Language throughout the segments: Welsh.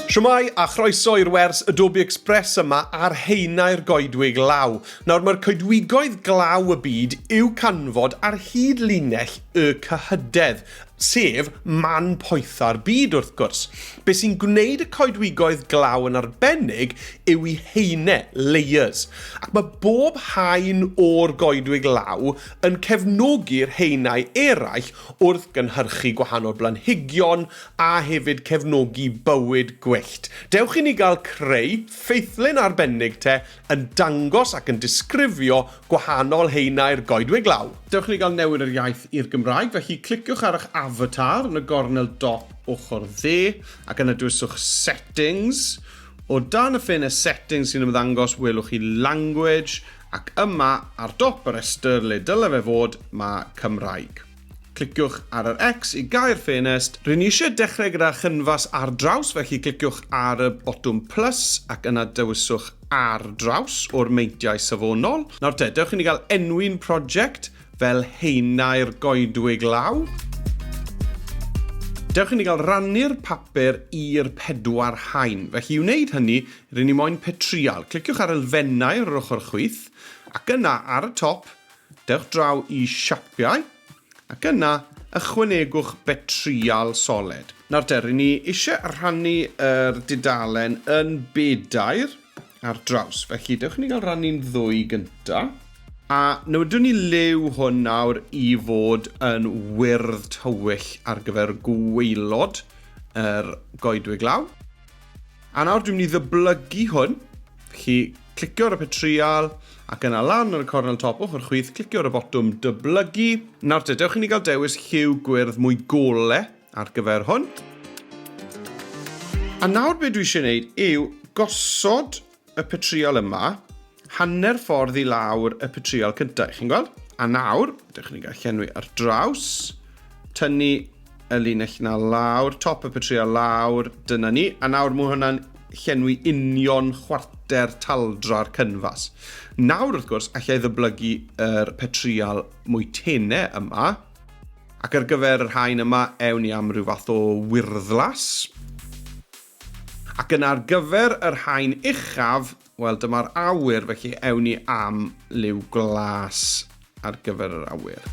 Siwmai a chroeso i'r wers y Dobi Express yma ar heinau'r goedwig law. Nawr mae'r coedwigoedd glaw y byd i'w canfod ar hyd linell y cyhydedd, sef man poetha'r byd wrth gwrs. Be sy'n gwneud y coedwigoedd glaw yn arbennig yw i heinau, layers, ac mae bob haen o'r goedwig law yn cefnogi'r heinau eraill wrth gynhyrchu gwahanol blanhigion a hefyd cefnogi bywyd gwyllt. Dewch i ni gael creu ffeithlyn arbennig te yn dangos ac yn disgrifio gwahanol haenau'r goedwig law. Dewch i ni gael newid yr iaith i'r Gymraeg, felly cliciwch ar eich avatar yn y gornel dop ochr dde ac yna dewisiwch Settings. O dan y ffenest Settings sy'n ymddangos welwch chi Language Ac yma, ar dop y rhestr le dyle fe fod, mae Cymraeg. Cliciwch ar yr X i gau'r ffenest. Rŷn ni eisiau dechrau gyda chynfas ar draws, felly cliciwch ar y botwm plus ac yna dewiswch Ar draws o'r meintiau safonol. Nawr te, dewch i ni gael enwi'n prosiect fel Haenau'r Goedwig Law. Dewch i ni gael rannu'r papur i'r pedwar haen. Felly i wneud hynny, Rŷn ni moyn pe trial. Cliciwch ar elfennau ar yr ochr chwith, ac yna ar y top, dewch draw i Siapiau, ac yna ychwanegwch pe trial soled. Nawr te, rŷn ni eisiau rhannu yr dudalen yn bedair ar draws, felly dewch i ni gael rannu'n ddwy gyntaf. A newidwn ni liw hwn nawr i fod yn wyrdd tywyll ar gyfer gwaelod yr goedwig law. A nawr dwi'n mynd i ddyblygu hwn. Chi clicio ar y petrial ac yna lan ar y cornel top ochr chwith, clicio ar y botwm dyblygu. Nawr te, dewch i ni gael dewis lliw gwyrdd mwy gole ar gyfer hwn. A nawr beth dwi eisiau gwneud yw gosod y petriol yma, hanner ffordd i lawr y petriol cyntaf, chi'n gweld? A nawr, ydych chi'n gallu llenwi ar draws, tynnu y linell na lawr, top y petriol lawr, dyna ni, a nawr mae hwnna'n llenwi union chwarter taldra'r cynfas. Nawr, wrth gwrs, allai ddyblygu yr petriol mwy tene yma, ac ar gyfer yr hain yma, ewn ni am rhyw fath o wyrddlas. Ac yna ar gyfer y rhain uchaf, wel dyma'r awyr, felly ewn ni am liw glas ar gyfer yr awyr.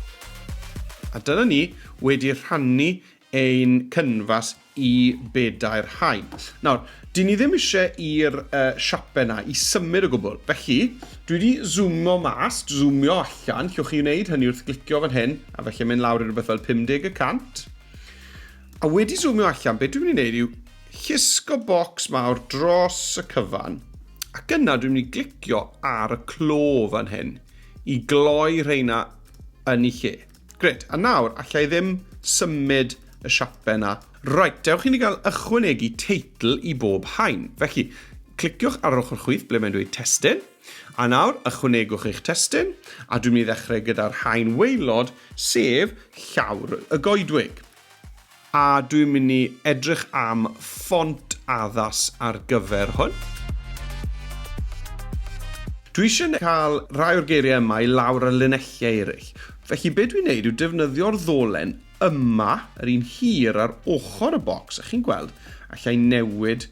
A dyna ni wedi rhannu ein cynfas i bedair haen. Nawr, dyn ni ddim eisiau i'r uh, siape na i symud o gwbl, felly dwi wedi zoomo mas, zoomio allan, llwch chi wneud hynny wrth glicio fan hyn, a felly mynd lawr i rhywbeth fel 50 y cant. A wedi zoomio allan, be dwi'n mynd i wneud yw llusgo bocs mawr dros y cyfan, ac yna dwi'n mynd i glicio ar y clo fan hyn i gloi rheina yn ei lle. Gret, a nawr, allai ddim symud y siape yna. Right, dewch i ni gael ychwanegu teitl i bob haen. Felly, cliciwch ar yr ochr chwith ble mae'n dweud testun. A nawr, ychwanegwch eich testun, a dwi'n mynd i ddechrau gyda'r haen waelod, sef llawr y goedwig. A dwi'n mynd i edrych am ffont addas ar gyfer hwn. Dwi eisiau cael rhai o'r geiriau yma i lawr ar linelliau eraill, felly be dwi'n neud yw defnyddio'r ddolen yma, yr un hir ar ochr y bocs, a chi'n gweld, alla i newid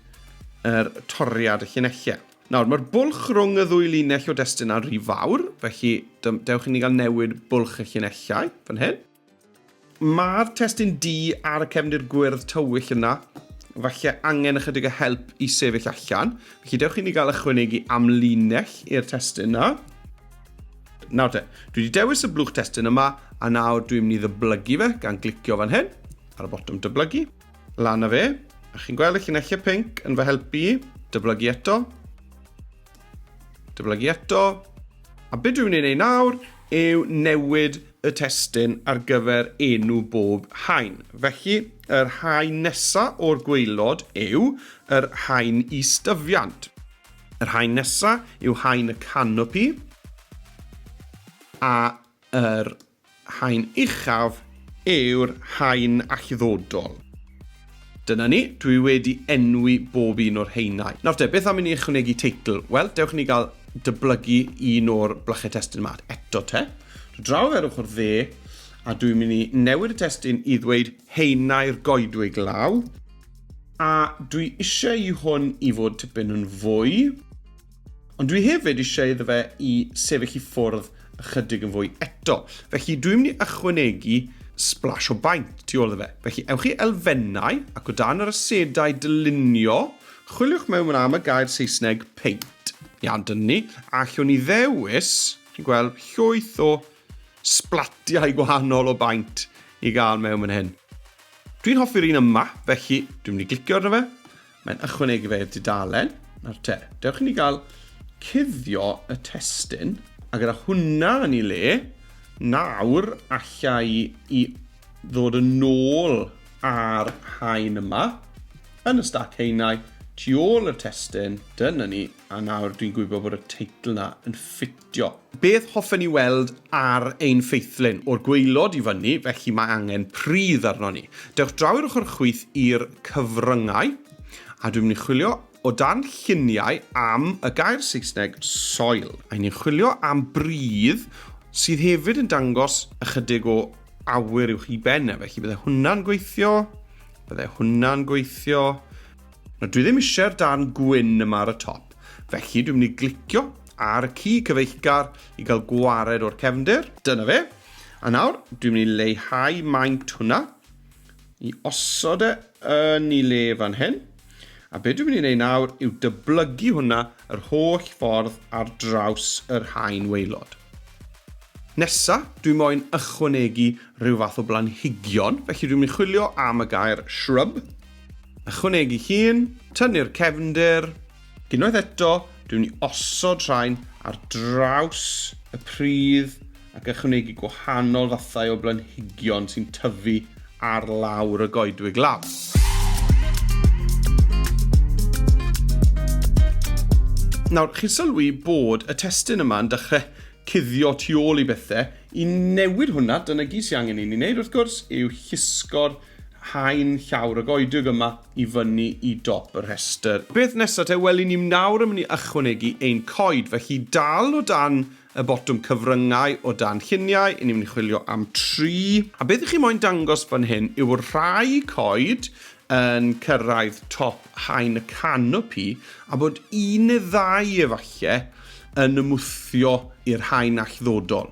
yr toriad y llinelliau. Nawr, mae'r bwlch rhwng y ddwy linell o destun ar rhy fawr, felly dewch i ni gael newid bwlch y llinellau, fan hyn. Mae'r testun du ar y cefndir gwyrdd tywyll yna, falle angen ychydig o help i sefyll allan. Felly dewch i ni gael ychwanegu amlinell i'r testun yna. Nawr te, dwi wedi dewis y blwch testun yma, a nawr dwi'n mynd i ddyblygu fe gan glicio fan hyn, ar y botwm dyblygu. Lan a fe. A chi'n gweld y llinellau pink yn fy helpu i? Dyblygu eto. Dyblygu eto. A beth dwi'n ei wneud nawr yw newid y testyn ar gyfer enw bob hain. Felly, yr hain nesa o'r gweilod yw yr hain i styfiant. Yr hain nesa yw hain y canopi. A yr Haen uchaf yw'r haen allddodol. Dyna ni, dwi wedi enwi bob un o'r haenau. Nawr te, beth am i ni ychwanegu teitl? Wel, dewch i ni gael dyblygu un o'r blychau testun yma eto te. Dwi draw ar ochr dde, a dwi'n mynd i newid y testun i ddweud haenau'r goedwig law. A dwi eisiau i hwn i fod tipyn yn fwy. Ond dwi hefyd eisiau iddo fe i sefyll i ffwrdd ychydig yn fwy eto. Felly dwi'n mynd i ychwanegu splash o baint tu ôl iddo fe. Felly ewch i elfennau ac o dan yr asedau dylunio, chwiliwch mewn am y gair Saesneg paint. Iawn, dyna ni. A llwn ni ddewis, chi'n gweld, llwyth o splatiau gwahanol o baint i gael mewn yn hyn. Dwi'n hoffi'r un yma, felly dwi'n mynd i glicio arno fe, Mae'n ychwanegu fe i'r dudalen. Nawr te, dewch i ni gael cuddio y testun. A gyda hwnna yn ei le, nawr allai i ddod yn ôl ar haen yma, yn y stac haenau, tu ôl y testun, dyna ni, a nawr dwi'n gwybod bod y teitl yna yn ffitio. Dio. Beth hoffen ni weld ar ein ffeithlyn? O'r gwaelod i fyny, felly mae angen pridd arnon ni. Dewch draw i'r ochr chwith i'r cyfryngau, a dwi'n mynd i chwilio o dan lluniau am y gair Saesneg soil. A ni'n chwilio am bridd sydd hefyd yn dangos ychydig o awyr uwch i ben e, felly bydde hwnna'n gweithio, bydde hwnna'n gweithio. No, dwi ddim eisiau'r darn gwyn yma ar y top, felly dwi'n mynd i glicio ar y ci cyfeillgar i gael gwared o'r cefndir. Dyna fe. A nawr, dwi'n mynd i leihau maint hwnna, i osod e yn ei le fan hyn. A be dwi'n mynd i wneud nawr yw dyblygu hwnna yr holl ffordd ar draws yr haen waelod. Nesa, dwi moyn ychwanegu rhyw fath o blanhigion, felly dwi'n mynd i chwilio am y gair shrub, ychwanegu llun, tynnu'r cefndir, Unwaith eto, dwi'n ni osod rhain ar draws y pridd ac ychwanegu gwahanol fathau o blanhigion sy'n tyfu ar lawr y goedwig law. Nawr, chi'n sylwi bod y testyn yma'n dechrau cuddio tu ôl i bethau. I newid hwnna, dyna gyd sy'n angen i ni wneud wrth gwrs, yw llusgo'r haen llawr y goedwig yma i fyny i dop y rhestr. Beth nesa te? Wel i ni nawr yn mynd i ychwanegu ein coed, felly dal o dan y botwm cyfryngau o dan lluniau, i ni mynd i chwilio am tri. A beth i chi moyn dangos fan hyn yw'r rhai coed yn cyrraedd top haen y canopi a bod un neu ddau efalle yn ymwthio i'r haen allddodol.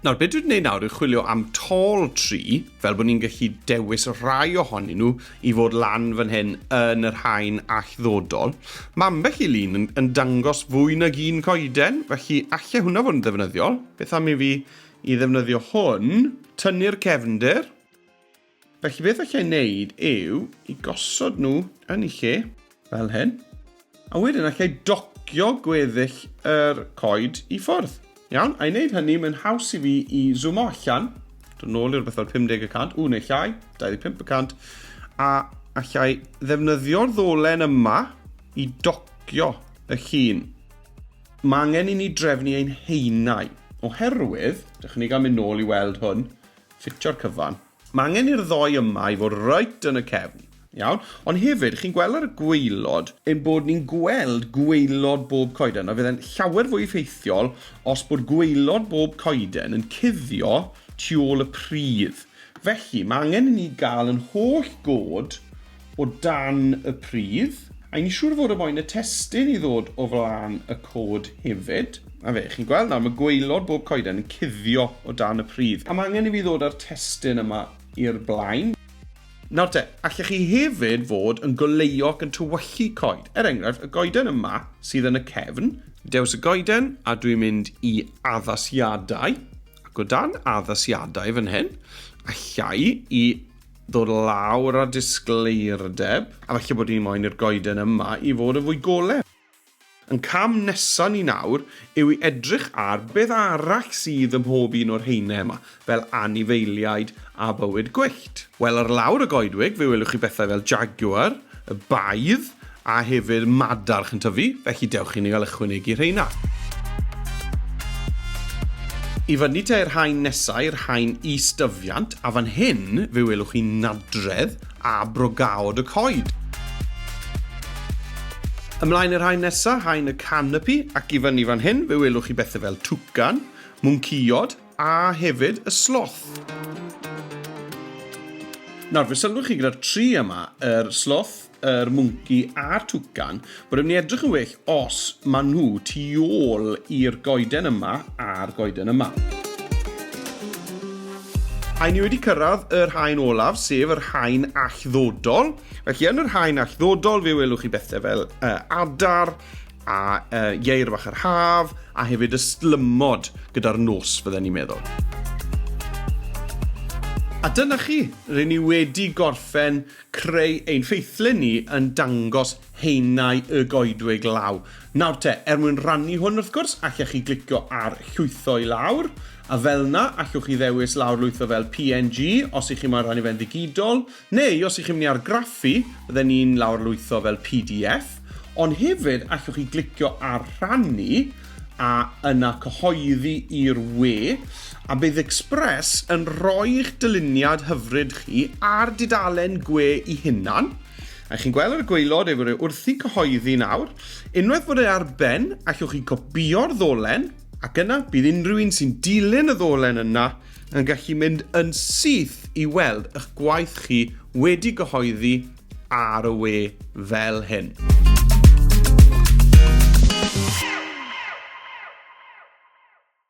Nawr, beth dwi'n gwneud nawr yw chwilio am tall tri, fel bod ni'n gallu dewis rhai ohonyn nhw i fod lan fan hyn yn yr haen allddodol. Mae ambell i lun yn, yn dangos fwy nag un coeden, felly allai hwnna fod yn ddefnyddiol. Beth am i fi i ddefnyddio hwn, tynnu'r cefndir, Felly beth allai wneud yw i gosod nhw yn ei lle, fel hyn, a wedyn allai docio gweddill yr coed i ffwrdd. Iawn, a'i wneud hynny, mae'n haws i fi i zoomo allan, dod yn ôl i'r bethau 50 y cant, ww, neu llai, 25 y cant, a allai ddefnyddio'r ddolen yma i docio y llun. Mae angen i ni drefnu ein haenau, oherwydd, dechrau ni gael mynd nôl i weld hwn, Ffitio'r cyfan. Mae angen i'r ddou yma i fod reit yn y cefn. Iawn. Ond hefyd, chi'n gweld ar y gwaelod, ein bod ni'n gweld gwaelod bob coeden, a fydde'n llawer fwy effeithiol os bod gwaelod bob coeden yn cuddio tu ôl y pridd. Felly, mae angen i ni gael yn holl god o dan y pridd. A i'n siŵr fod y moyn y testun i ddod o flan y cod hefyd. A fe, chi'n gweld nawr, mae gwaelod bob coeden yn cuddio o dan y pridd. A mae angen i fi ddod â'r testun yma i'r blaen. Nawr te, allech chi hefyd fod yn goleuo ac yn tywyllu coed. Er enghraifft, y goeden yma sydd yn y cefn. Dewis y goeden, a dwi'n mynd i addasiadau. Ac o dan addasiadau fan hyn, allai i Dod lawr â disgleirdeb. A falle bod ni moyn i'r goeden yma i fod yn fwy golau. Ein cam nesaf ni nawr yw i edrych ar beth arall sydd ym mhob un o'r haenau yma, fel anifeiliaid a bywyd gwyllt. Wel, ar lawr y goedwig fe welwch chi bethau fel jaguar, y baedd, a hefyd madarch yn tyfu, felly dewch i ni gael ychwanegu rheina. I fyny te i'r haen nesau, i'r haen is-dyfiant, a fan hyn fe welwch chi nadredd a brogaod y coed. Ymlaen i'r haen nesaf, haen y canopi, ac i fyny fan hyn fe welwch chi bethau fel twcan, mwncïod a hefyd y sloth. Nawr, fe sylwch chi gyda'r tri yma, yr sloth, yr mwnci a'r twcan, bod e'n mynd i edrych yn well os maen nhw tu ôl i'r goeden yma a'r goeden yma. A ni wedi cyrraedd yr haen olaf, sef yr haen allddodol. Felly yn yr haen allddodol, fe welwch chi bethau fel uh, adar, a uh, ieir fach yr haf, a hefyd ystlymod gyda'r nos, fydden ni'n meddwl. A dyna chi, rydyn ni wedi gorffen creu ein ffeithlyn ni yn dangos haenau y goedwig law. Nawr te, er mwyn rannu hwn wrth gwrs, allech chi glicio ar llwytho i lawr, a fel na, allwch chi ddewis lawr lwytho fel png os i chi moyn rhannu fe'n ddigidol, neu os i chi'n mynd i argraffu, bydden ni'n lawr lwytho fel pdf, ond hefyd allwch chi glicio ar rhannu, a yna cyhoeddi i'r we, a bydd Express yn rhoi'ch dyluniad hyfryd chi a'r dudalen gwe i hunan, a chi'n gweld ar y gwaelod ei fod e wrthi'n cyhoeddi nawr, unwaith bod e ar ben, allwch chi gopïo'r ddolen, ac yna bydd unrhyw un sy'n dilyn y ddolen yna yn gallu mynd yn syth i weld eich gwaith chi wedi gyhoeddi ar y we fel hyn.